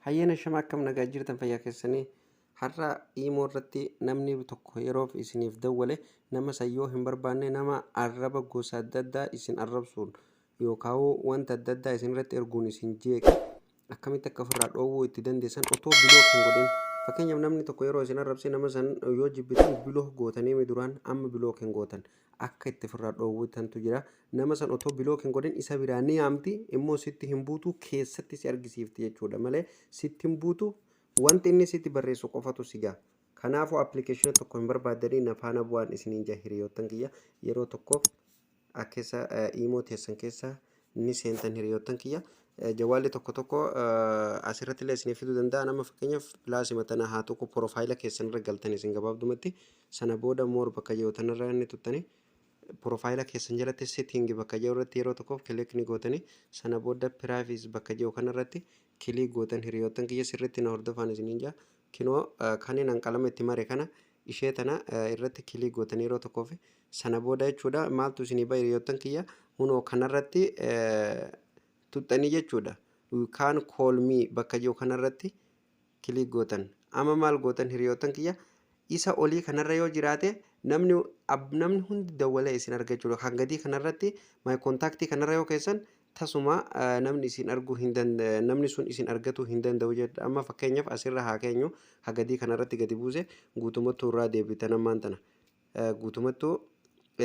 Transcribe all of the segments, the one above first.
Hayyeen ashama akkam nagaa jirtan fayyaa keessanii har'a iimoo irratti namni tokko yeroof isiniif dawwale nama san yoo hin barbaanne nama arraba gosa adda addaa isin arrabsuun yookaan wanta adda addaa isin irratti erguun isin jeeqe akkamitti akka ofirraa dhoowwuu itti dandeessan otoo biloo hin godhin fakkeenyaaf namni tokko yeroo isin arrabse nama san yoo jibbitan biloo gootanii duraan amma biloo hin gootan akka itti firraa dhoowwu tantu jira nama san otoo bilook hin godhin isa biraa ni yaamti immoo sitti hin buutu keessatti si argisiifti jechuudha malee sitti hin buutu wanti inni sitti barreessu qofatu si ga'a kanaafuu appilikeeshina tokko hin barbaadanii na faana bu'aan isiniin jaa hiriyoottan kiyya yeroo tokkoof akkessa iimoo teessan keessa ni seentan hiriyoottan kiyya. Jawwaalli tokko tokko asirratti illee isinii fiduu danda'a. Nama fakkeenyaaf pilaasima tana haa tuqu porofaayila keessan irra galtan isin gabaabdumatti sana booda moor bakka jiru tanarra ni tuttani. Porofaayila keessan jalatti setting bakka jiru irratti yeroo tokkoof kilik ni gootani. Sana booda piraayivis bakka jiru kanarratti kilik gootan hiriyoottan kiyya sirriitti na hordofaan isiniin jaa. Kinoo kanin an qalama itti mare kana ishee tana irratti click gootanii yeroo tokkoo fi sana booda jechuudha maaltu isinii ba'a hiriyoottan kiyya hunoo kanarratti tuxxanii jechuudha you can call me bakka jiru kanarratti click gootan amma maal gootan hiriyoottan kiyya isa olii kanarra yoo jiraate namni ab- namni hundi dawwalee isin argachuudha kan gadii kanarratti my contact kanarra yoo keessan Tasuma namni isin arguu hin namni sun isin argatuu hin danda'u jedha. Amma fakkeenyaaf asirra haa keenyu hagadii kanarratti gadi buuse guutumattuu irraa deebitan ammaan tana. Guutumattuu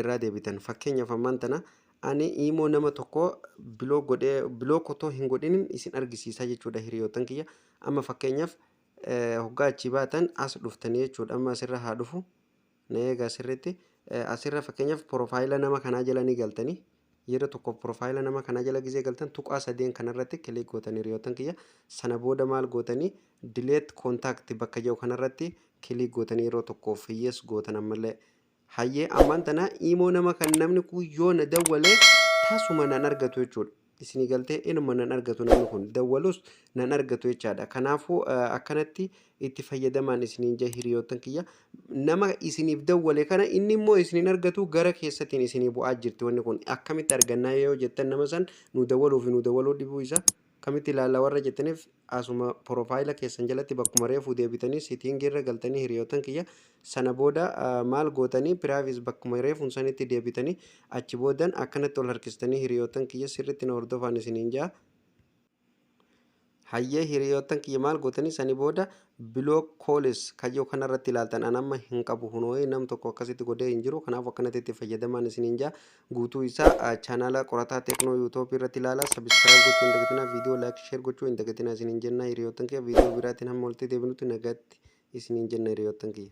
irraa deebitan fakkeenyaaf ammaan tana ani imoo nama tokko biloo godhee biloo kotoo hin godhinin isin argisiisaa jechuudha hiriyootan kiyya. Amma fakkeenyaaf hoggaa achii baatan as dhuftanii jechuudha. Amma asirra haa dhufu. Mee egaa sirriitti asirra fakkeenyaaf piroofaayila nama kanaa jala ni galtanii yeroo tokkoof piroofaayila nama kanaa jala gizee galtan tuqaa sadeen kanarratti kilik gootanii hiriyoottan kiyya sana booda maal gootanii dileet koontaakti bakka jedhu kanarratti kilik gootanii yeroo tokkoof hiyyees gootan ammallee hayyee ammaan tana imoo nama kan namni kun yoo na dawwalee tasuma nan argatu jechuudha. isinii galtee inuma nan argatu namni kun dawwalus nan argatu jechaadha kanaafuu akkanatti itti fayyadamaan isiniin jee hiriyoottan kiyya nama isiniif dawwale kana inni immoo isiniin argatu gara keessatiin isinii bu'aa jirti wanni kun akkamitti argannaa yoo jettan nama san nu dawwaluu fi nu dawwaluu dhibuu isa akkamitti ilaalla warra jettaniif Asuma profile keessan jalatti bakkuma reefuu deebitanii setting irra galtanii hiriyootan kiyya sana booda maal gootanii privacy bakkuma reefuun sanitti deebitanii achi boodan akkanatti ol harkistanii hiriyootan kiyya sirritti na hordofaan isiniin jaa hayyee hiriyootan kiyya maal gootanii sani booda biloo koolis kayyoo kanarratti ilaaltan an amma hin qabu hunoo'ee nam tokko akkasitti godhee hin jiru kanaaf akkanatti itti fayyadamaan isiniin jaa Guutuu isaa channel qorataa techno youtube irratti ilaala subscribe gochuu hin dagatinaa video like share gochuu hin dagatinaa isiniin jenna hiriyoottan kiyya video biraatiin hamma walitti deebinutti nagaatti isiniin jenna hiriyoottan kiyya.